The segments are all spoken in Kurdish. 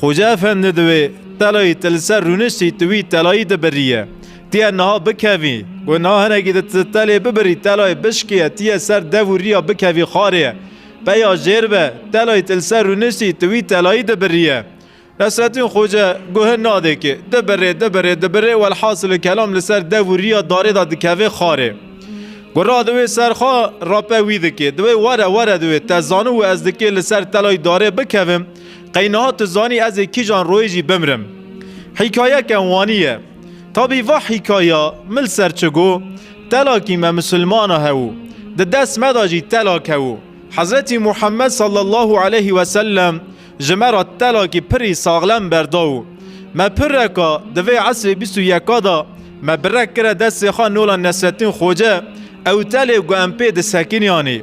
Xoca Efendi di wê telayî te li ser rûniştî tu wî telayî dibiriye. Tu yê niha bikevî ku niha hinekî di tu telê bibirî telayê bişkiye tu yê ser dev û riya bikevî xarê. Peya jêr be telayî te li ser rûniştî tu wî telayî dibiriye. Nesrettîn Xoca guh nade kê. Dibirê dibirê dibirê welhasil kelam li ser dev û riya darê de dikevê xarê. Gura di wê serxa rape wî dikê. Di wê were were di wê te zanu û ez dikê li ser telayî darê bikevim. Qey niha tu zanî ez ê kîjan royê jî bimrim. Hîkayeke wanî ye. Tabî va hîkaya mil ser çi go, Telakî me misilmana hew û di dest me de jî telak hew û Hezretî Muhemmed sallallahu aleyhî wesellem ji me re telakî pirî saxlem berda û me pirreka di vê esrê bîst û yeka de me birek kire destê xwe nola Nesrettîn Xoce ew telê ku em pê disekiniyanê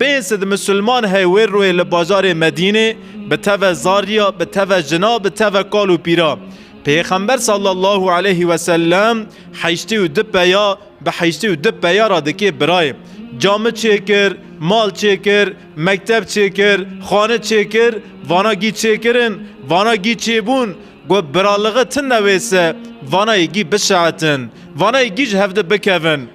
Pênc sed misilman hey wê rûyê li bajarê Medînê bi teve zariya, bi teve jina, bi teve kal û pîra. Pêxember sallallahu aleyhi ve sellem heştê û du peya bi heştê û du peya re dikê birayê. Cami çêkir, mal çêkir, mekteb çêkir, xane çêkir, vana gî çêkirin, vana gî çêbûn, got biralighi tune wê se, vanayê gî bişeetin, vanayê gî ji hevdi bikevin.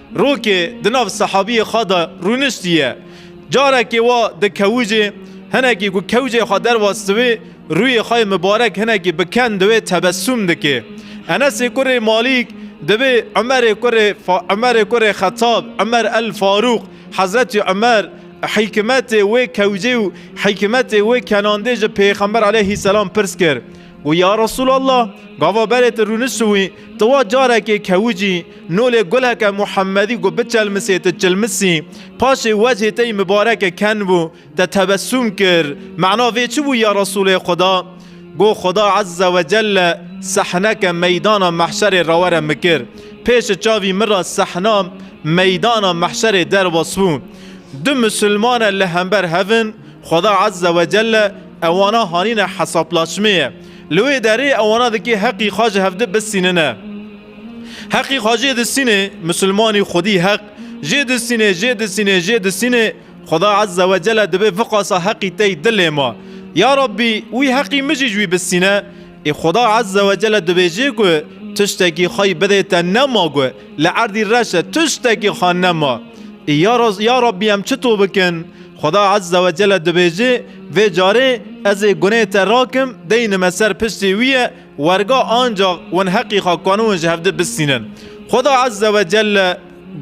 Rokê di nav sehabiyê xwe de rûniştiye. Carekê wa di kewicê, hinekî ku kewcê xwe derwas diwê, rûyê xwe yê mibarek hinekî bi ken diwê tebesûm dikê. Enesê kurê Malîk dibe Umerê kurê Umerê kurê Xetab, Umer El Farûq, Hezretî Umer, hîkimetê wê kewcê û hîkimetê wê kenandê ji Pêxember Eleyhîsselam pirs kir. Got, Ya Resûlallah! Gava berê tu rûnişt wî, tu wa carekê kewicî nolê guleke Muhemedî ku biçelmisê tu çilmisî. Paşê wecihê te yî mibarek e ken bû, te tebesûm kir. Mana vê çi bû ya Resûlê Xweda? Got, Xweda Ezze we Celle sehneke meydana mehşerê rewere min kir. Pêşi çavî min re sehna meydana mehşerê derbas bû. Du misûlmane li hember hev in, Xweda Ezze we Celle Ewana hanîne hesaplaşmeyê. Li wê derê ewana dikê heqî xwe ji hevdi bisînine. Heqî xwe jê disînê, misilmanî xwedî heq jê disînê, jê disînê, jê disînê, Xweda Ezze we Celle dibê viqasa heqî tey dilê me. Ya Rabbî wî heqî min jî ji wî bisîne. Ê Xweda Ezze ve Celle dibêjê ku tiştekî xwey bidê te nema ku li erdî reş e tiştekî xwe nema. Ê ya Raz ya Rabbî em çi to bikin? Xweda Ezze ve Celle dibêjê vê carê ez ê gunê te rakim deyne me ser piştê wî ye werga ancax wan heqî xwe kaniwin ji hevdi bistînin. Xweda Ezze ve Celle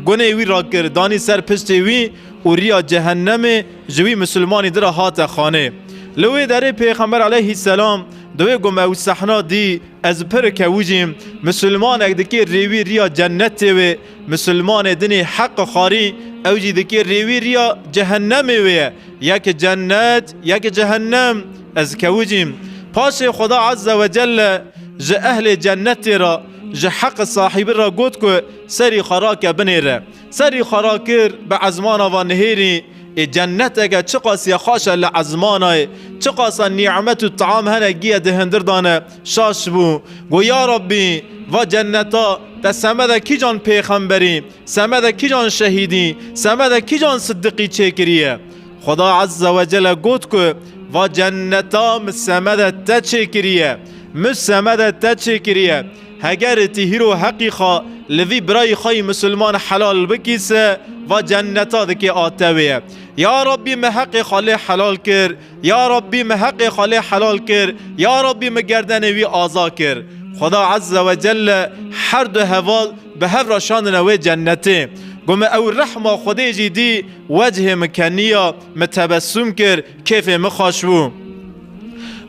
Gunê wî rakir, danî ser piştê wî û riya cehennemê ji wî misilmanî di re hate xanê. Li wê derê Pêxember aleyhî selam di wê gu me ew sehna dî, Ez pir kewijîm, misilmanek dikê rê wî riya cennetê wê, misilmanê dinê heqi xarî ew jî dikê rê wî riya cehennemê wê ye. Yek cennet, yek cehennem. Ez kewijîm. Paşê Xweda Ezze Wecelle ji ehlê cennetê re, ji heqi sahîbi re got ku, Serî xwe rake binê re. Serî xwe rakir bi ezmana va nihêrî, Ê cenneteke çiqasîya xweş e li ezmana ye, çiqasa nîmet û team hene giye di hindir de ne. Şaş bû. Got, Ya Rabbî, va cenneta te semede kîjan pêxemberî, semede kîjan şehîdî, semede kîjan sidiqî çêkiriye? Xweda Ezze we Celle got ku, Va cenneta min semede te çêkiriye. Min semede te çêkiriye. Heger ti hîro heqî xwe li vî birayî xwe yî misilman helal bikî se va cenneta dikê a tewê ye. Ya Rabbî min heqê xwe lê helal kir, Ya Rabbî min heqê xwe lê helal kir, Ya Rabbî min gerdenê wî aza kir. Xweda Ezze ve Celle her du heval bi hev re şandine wê cennetê. Got min ew rehma Xwedê jî dî, wecihê min keniya, min tebessum kir, kêfê min xweş bû.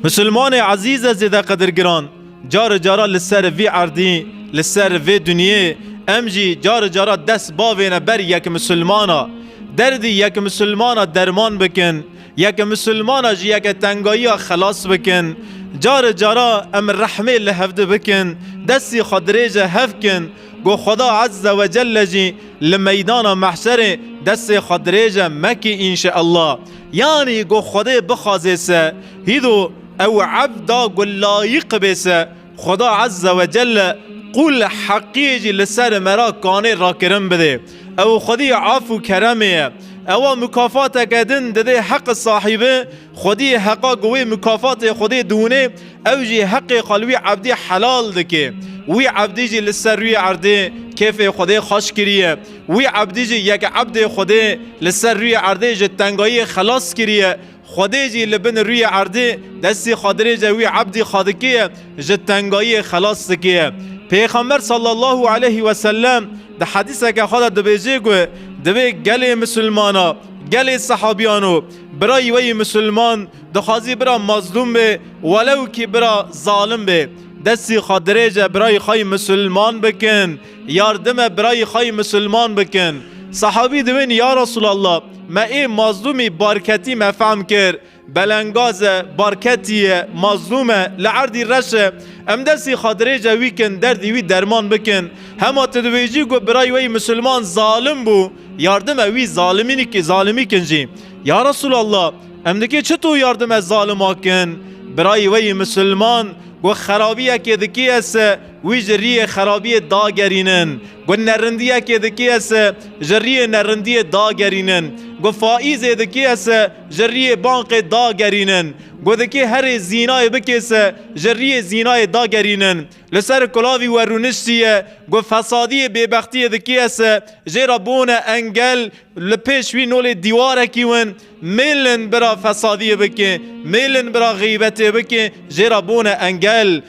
Misilmanê ezîz e zêdeqedirgiran! Cari cara li ser vî erdî, li ser vê dinyê em jî cari cara dest bavêne ber yek misilmana. Derdî yek misilmana derman bikin, yek misilmana ji yeke tengayiya xelas bikin. Cari cara em rehmê li hevdi bikin, destî xwe dirêje hev kin ku Xweda Ezze we Celle jî li meydana mehşerê destê xwe dirêje meki înşeellah. Yanî ku Xwedê bixwazê se hîdo Ew evda ku layîq bê se Xweda Ezze ve Celle qûl heqiyê jî li ser me re kanê rakirin bidê. Ew xwedî af û keremê ye. Ewa mûkafateke din didê heqi sahîbi, xwedî heqa ku wê mûkafatê xwedê diwinê, ew jî heqê xwe li wî evdî helal dikê. Wî evdî jî li ser rûyê erdê kêfê xwedê xweş kiriye. Wî evdî jî yek evdê xwedê li ser rûyê erdê ji tengayiyê xelas kiriye Xwedê jî li bin rûyê erdê destê xwedirêje wî ebdî xwedikê ye, ji tengayiyê xelas dike ye. Pêxember sallallahu aleyhi ve sellem di hedîseke xwe de dibêje ku divê gelê misilmana gelê sehabiyan û birayî weyî misilman dixwazî bira mazlûm bê welewkî bira zalim bê destê xwedirêje birayî xweyî misilman bikin Yardime birayê xwe yê misilman bikin. Sehabî diwênî ya Resûlallah, me ê mazlûmî barketî me fehm kir. Belengaz e, barketî ye, mazlûm e, li erdî reş e. Em destê xwe dirêje wî kin, derdê wî derman bikin. Hema tu dibêjî ku birayê we yê misilman zalim bû, yardime wî zalimî kin jî. Ya Resûlallah, em nikê çito yardime zalima kin? Birayê we yê misilman ku xerabiyekê dikê ez se, Wî ji riyê xerabiyê dagerînin. Got nerindiyekê dikêye se ji riyê nerindiyê dagerînin. Got faîzê dikêye se ji riyê banqê dagerînin. Got dikê herê zînayê bikê se ji riyê zînayê dagerînin. Li ser kulavî we rûniştiye got fesadiyê bêbextiyê dikêye se jê re bûne engel li pêş wî nolê dîwarekî win mêlin bira fesadiyê bikê mêlin bira xîbetê bikê jê re bûne engel.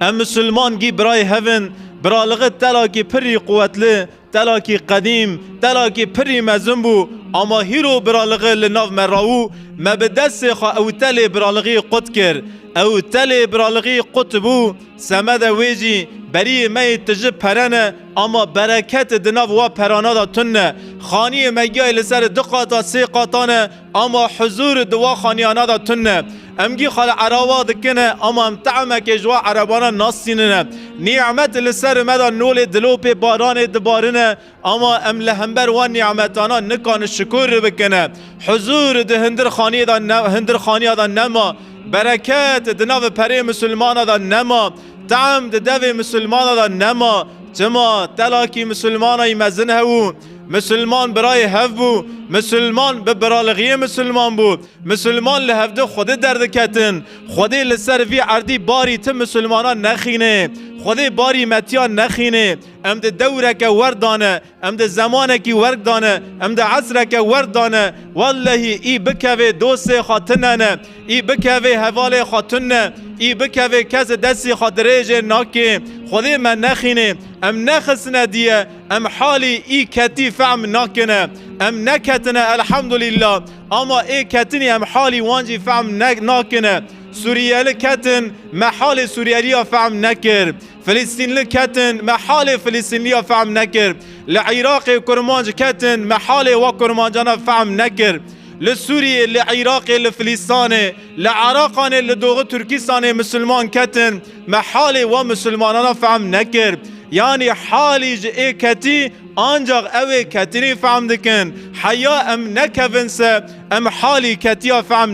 Em Musulman gî birayê hev in, biraliqî telakî pirî quwetli, telakî qedîm, telakî pirî mezin bû, ama hîro biraliqî li nav me rawû, me bi destê xwe ew telê biraliqî qut kir. Ew telê biraliqî qut bû, semede wê jî berîyê me yê tiji pere ne, ama bereketi di nav wa perana de tune. Xaniyê me giyayê li ser du qata sê qata ne, Ama huzûr di wa xaniyana de tund e. Em gî xala eraba dikin e, ama em te'mekê ji wa erebana nasînin e. Nî'met li ser me de nolê dilopê baranê dibarin e, ama em li hember wan nî'metana nikanin şikûr bikin e. Huzûr di hindirxaniyê de ne hindirxaniya de nema, bereket di navê perê misilmana de nema, te'm di devê misilmana de nema. Çima? Telakî misilmanayî mezin hew û. Misilman birayê hev bû, misilman bi biralighiyê misilman bû, misilman li hevdi Xwedê derdiketin, Xwedê li ser vî erdî barî ti misilmanan nexînê, Xwedê barî me tiyan nexînê, em di dewreke werd da ne, em di zemanekî werg da ne, em di esreke werd da ne, wellehî î bikevê dostê xwe tune ne, î bikevê hevalê xwe tun ne, î bikevê kes destî xwe dirêjê nakê, Xwedê me nexînê, em nexistine diye, Em halî î ketî fehm nakine. Em neketine elhamdulîla ama ê ketinî em halî wan jî fehm nakine. Suriyeli ketin me halê Suriyeliya fehm nekir. Filistînli ketin me halê Filistînliya fehm nekir. Li Îraqê kurmanc ketin me halê we kurmancana fehm nekir. Li Suriyê, li Îraqê, li Filistanê, li Iraqanê, li Doxi Turkistanê misilman ketin, Me halê wan misilmanana fehm nekir. Yanî halî ji ê ketî ancax ew ê ketinî fehm dikin. Heya em nekevin se em halî ketiya fehm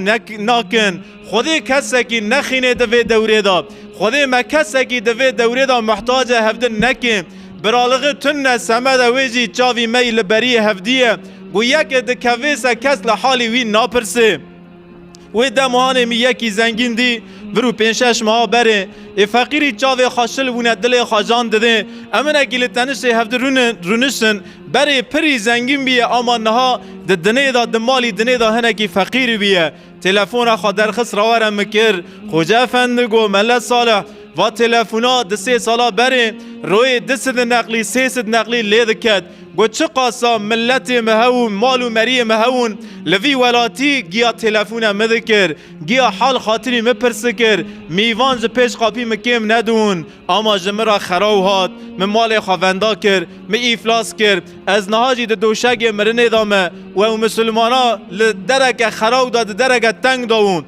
nakin. Xwedê kesekî nexînê di vê dewrê de. Xwedê me kesekî di vê dewrê de muhtacê hevdin nekê. Biralixi tund ne semeda wê jî çavî me yî li beriyê hevdî ye. Ku yekê dikevê se kes li halî wî napirsê. Wê dem hanê mî yekî zengîn dî vir û pênc şeş meha berê ê feqîrî çavê xwe şil bûne dilê xwe can didê. Em hinekî li tenişê hevdi rûnişin. Berê pirî zengîn bîye ama niha di dinê de di malî dinê de hinekî feqîr bîye. Telefona xwe derxist rawere min kir. Xoca Efendi got, Mele Salih, Va telefona di sê sala berê royê di sidin neqlî sê sid neqlî lê diket. Got çi qasa miletê mi hew mal û meriyê mi hewin li vî welatî giya telefona mi dikir giya hal xatirî mi pirs dikir mîvan ji pêş qapî mi kêm nedûn ama ji mi ra xeraw hat mi malê xwe venda kir mi îflas kir ez niha jî di doşegê mirinê de me wew misilmana li dereke xeraw de di dereke teng de wûn.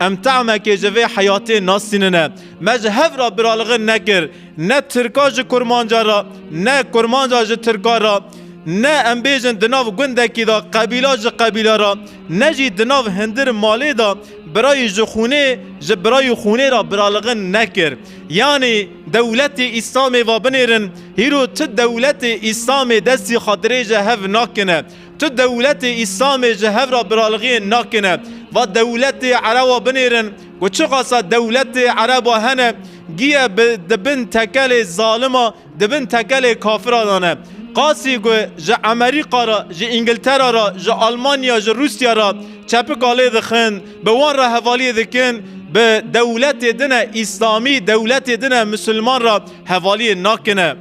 Em teamekê ji vê heyatê nasînine. Me ji hev re biralixin nekir. Ne tirka ji kurmanca re, ne kurmanca ji tirka re, ne em bêjin di nav gundekî de qebîla ji qebîle re, ne jî di nav hindir malê de birayî ji xûnê ji birayî xûnê re biralixin nekir. Yanî dewletê Îslamê va binêrin, hîro tu dewletê Îslamê destî xatirê ji hev nakine. Tu dewletê Îslamê ji hev re biralixiyên nakine. Va dewletê erewa binêrin ku çiqasa dewletê erewa hene giye bi di bin tekelê zalima, di bin tekelê kafira de ne. Qasî ku ji Emerîka re, ji Îngiltera re, ji Almanya, ji Rûsya re çepika lê dixin, bi wan re hevaliyê dikin, bi dewletê din e Îslamî, dewletê din e Misilman re hevaliyê nakine.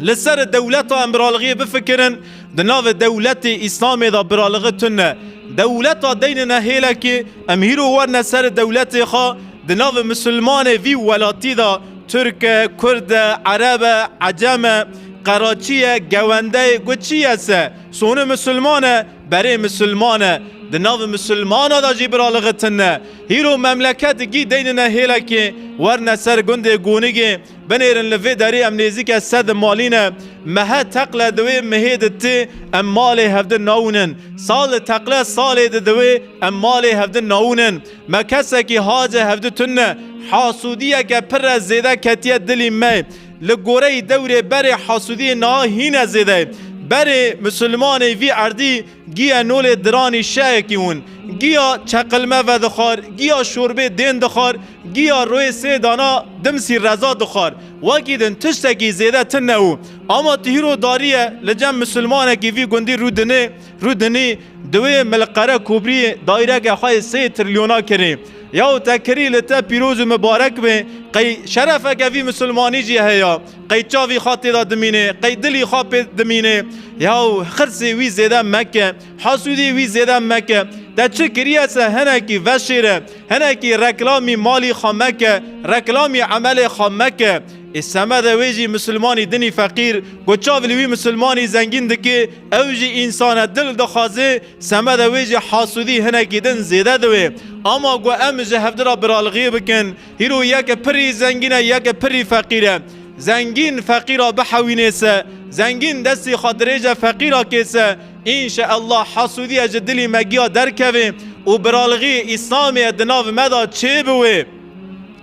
Li ser dewleta em biralixiyê bifikirin. Di navê dewletê Îslamê de biraligî tune. Dewleta deynine hêlekê, em hîro werne ser dewletê xwe, di navê misilmanê vî welatî de Tirk e, Kurd e, Ereb e, Ecem e, Qeraçî ye, Gewende ye, got çi ye se? Soni misilman e, berê misilman e. Di navê misilmana de jî biraligî tune. Hîro memleket gî deynine hêlekê, werne ser gundê Gonigê, Binêrin li vê derê em nêzîke sed malî ne. Mehe teqle di wê mihê di ti em malê hevdin naûnin. Sal li teqle salê di di wê em malê hevdin naûnin. Me kesekî hace hevdi tun ne. Hasûdiyeke pir re zêde ketiye dilî me. Li goreyî dewrê berê hasûdiyê niha hîne zêde ye. Berê Musulmanê vî erdî Giya nolê diranî şehekî win, giya çeqilme vedixwar, giya şorbê dên dixwar, giya royê sê dana dimsî reza dixwar. Wekî din tiştekî zêde tin ne û ama ti hîro darî ye li cem misilmanekî vî gundî rû dinê, rû dinî. Di wê milqere kobrîyê dayîreke xwe yê sê trilyona kirî. Yaw te kirî li te pîroz û mibarek be. Qey şerefeke vî misilmanî jî heye. Qey çavî xwe têda dimînê, qey dilî xwe pê dimînê. Yaw, xirsê wî zêde meke, hasûdî wî zêde meke. Te çi kiriye se hinekî veşêre, hinekî reklamî malî xwe meke, reklamî emelê xwe meke. Ê semede wê jî misilmanî dinî feqîr, ku çav li wî misilmanî zengîn dikê, ew jî însane dil dixwazê, semede wê jî hasûdî hinekî din zêde diwê. Ama ku em ji hevdira biralixiyê bikin, Hîro yeke pirî zengîn e yeke pirî feqîr e. Zengîn feqîra bihewînê se. Zengîn destê xwe dirêje feqîra kê se. Înşe Ellah hasûdîye ji dilî me giya derkeve û biralixî Îslamê di nav me de çêbiwe.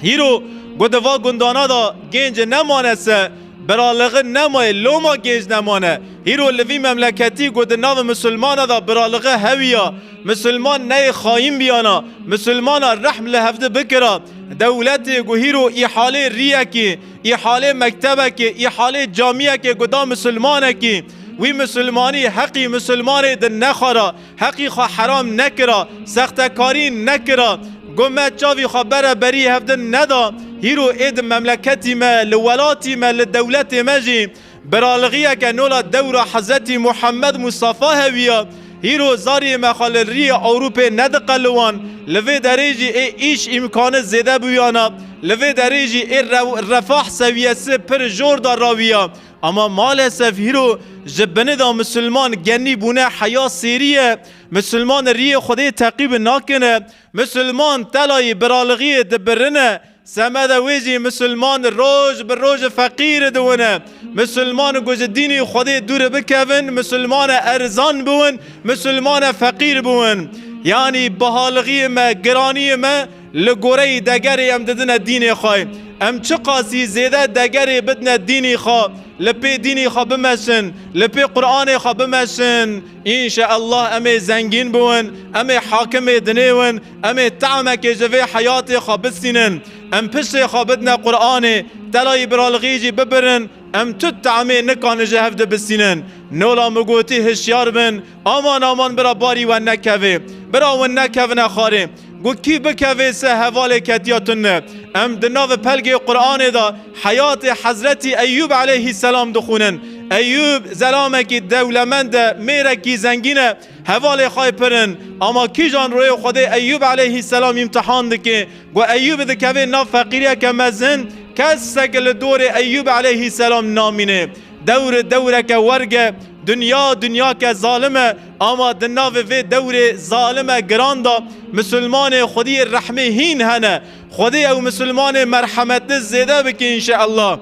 Hîro got di va gundana de gêncê nemane se. Biralixin nemaye loma gênc nemane. Hîro li vî memleketî got di nav misilmane de biralixin hewiya. Misilman neyê xayîn bîyana, misilmana rehm li hevdi bikira. Dewletê ku hîro îhalê rîyekê, îhalê mektebekê, îhalê camîyekê ku da misilmanekî, wî misilmanî heqî misilmanê di nexwara, heqî xwe heram nekira, sextekarî nekira, ku me çavî xwe bere berî hevdi neda, hîro ê di memleketî me, li welatî me, li dewletê me jî, Biraligiyeke nola dewra Hezetî Muhammed Mustafa hewiya, hîro zariyê me xwe li riyê Ewropê nediqeliwan, li vê derê jî ê îş îmkani zêde bûyana, li vê derê jî ê refah sewiyesi pir jor de rawiya. Ama malesef hîro ji bini de misilman genî bûne heya sêriye, misilman riyê Xwedê teqîb nakine, misilman telayê biraligiyê dibirine, Semeda wê jî Misilman roj bi roj feqîr dibûne. Misilman ku ji dînî Xwedê dûr bikevin, misilman erzan bûn, misilman feqîr bûn. Yanî bihalixiyê me, giraniyê me li goreyî degerê em didine dînê xwe. Em çiqasî zêde degerê bidine dînî xwe, li pê dînî xwe bimeşin, li pê Quranê xwe bimeşin, înşeellah em ê zengîn bûn, em ê hakimê dinêwin. Em ê teamekê ji vê heyatê xwe bisînin. Em piştê xwe bidine Quranê, telayî biralixî jî bibirin, em tut teamê nikanê ji hev dibisînin. Nola min gotî hişyar bin, aman aman bira barî we nekevê. Bira win nekevine xarê. Got kî bikevê se hevalê ketiya tund me. Em di navi pelgê Quranê de heyatê Hezretî Eyyûb eleyhî selam dixwînin. Eyyûb zelamekî dewlemend e, mêrekî zengîn e. Hevalê xwe pirin, ama kîjan royê Xwedê Eyyûb eleyhîsselam îmtihan dike? Ku Eyyûb dikeve nav feqîriyeke mezin, kesek li dorê Eyyûb eleyhîsselam namîne. Dewr dewreke werg e, dinya dinyake zalim e, ama di navê vê dewrê zalime giran de misilmanê Xwedî rehmê hîn hene. Xwedê ew misilmanê merhemetli zêde bike înşeellah.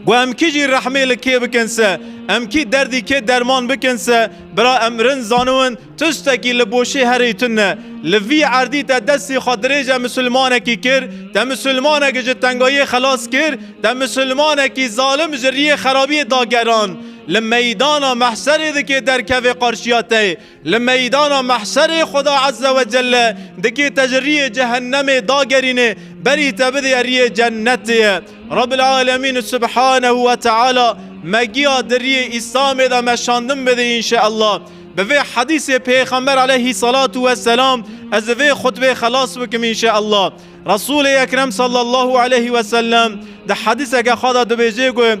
Ku em kî jî rehmê li kê bikin se, em kî derdî kê derman bikin se, bira em rind zaniwin tiştekî li boşê herî tune li vî erdî te destê xwe dirêje misilmanekî kir, te misilmanek ji tengayê xelas kir, te misilmanekî zalim ji riyê xerabiyê dageran li meydana mehserê dikê derkevê qarşiya te. Li meydana mehşerê Xuda Ezze ve Celle dikê te ji riyê cehennemê dagerîne berî te bidê riyê cennetê ye. Rabil Alemîn Subhanehu ve Teala me giya di riyê Îslamê de me şandin bidê înşeellah. Bi vê hedîsê Pêxember Eleyhîsalatu Weselam ez li vê xutbê xelas bikim înşeellah. Resûlê Ekrem Sallallahu Eleyhi Wesellem di hedîseke xwe de dibêje ku,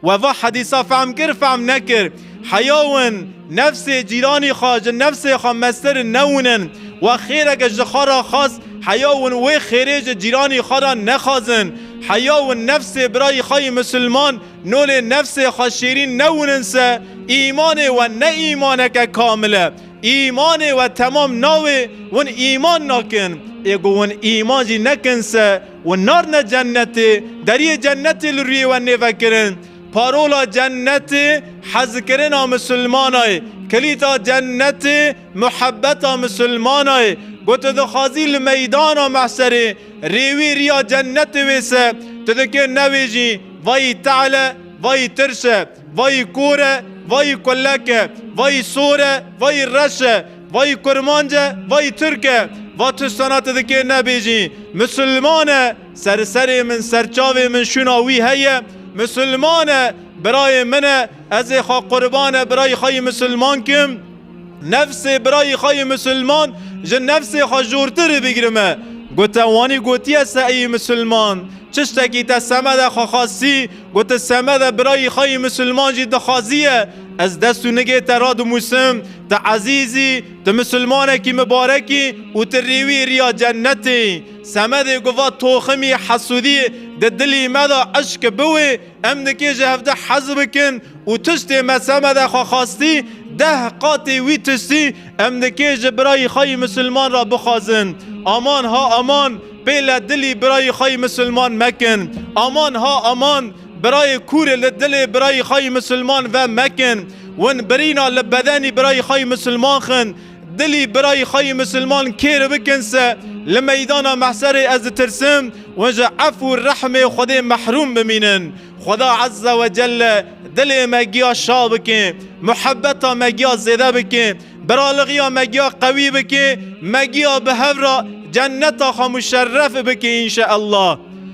We va hedîsa fehm kir, fehm nekir. Heya win, nefsê cîranî xwe ji nefsê xwe meztir newinin. We xêreke ji xwe re xwest, heya win wê xêrê ji cîranî xwe re nexwazin. Heya win nefsê birayî xwe yê misilman, no lê nefsê xwe şêrîn newinin se, îmanê we ne îmaneke kamil e. Îmanê we temam nawê, win îman nakin. Ê ku win îman jî nekin se, Wan narine cennetê, deriyê cennetê li rûyê we nêvekirin. Parola cennetê hezkirina misilmana ye, kilîta cennetê muhebeta misilmana ye. Ku tu dixwazî li meydana mehserê rê wî riya cennetê wêse, tu dikê newêjî vayî te'le, vayî tirse. Vayî kor e, vayî kulek e, vayî sor e, vayî reş e, vayî kurmanc e, vayî tirk e. Va tiştana tu dikê nebêjî. Misilman e, seri serê min, serçavê min şûna wî heye. Misilman e, birayê min e, ez ê xwe qurbane birayî xwe yî misilman kim. Nefsê birayî xwe yî misilman ji nefsê xwe jortirî bigirime. Gote wanî gotiye se eyî misilman, çiştekî te semede xwe xasî, Got, Semed e, birayî xwe yî misilman jî dixwaziye. Ez dest û nigê te radimûsim. Tu ezîz î, tu misilmanekî mibarek î û tu rêwî riya cenetê yî. Semedê got, Va toximî hesûdî, di dilî me de eşk bi wê, em nikê ji hev deh hez bikin û tiştê me Semede xwe xwestî, deh qatê wî tiştî, em nikê ji birayî xwe yî misilman re bixwazin. Aman ha aman! Pê le dilî birayî xwe yî misilman mekin. Aman ha aman, birayê kûrê li dilê birayî xwe yî misilman ve mekin. Win birîna li bedenî birayî xwe yî misilman xin. Dilî birayî xwe yî misilman kêr bikin se li meydana mehserê ez ditirsim win ji ef û rehmê Xwedê mehrûm bimînin. Xweda Ezze Wecelle dilê me giya şa bike, muhebeta me giya zêde bike. Biralixiya me giya qewî bike, me giya bi hev re cenneta xwe muşerref bike înşeellah.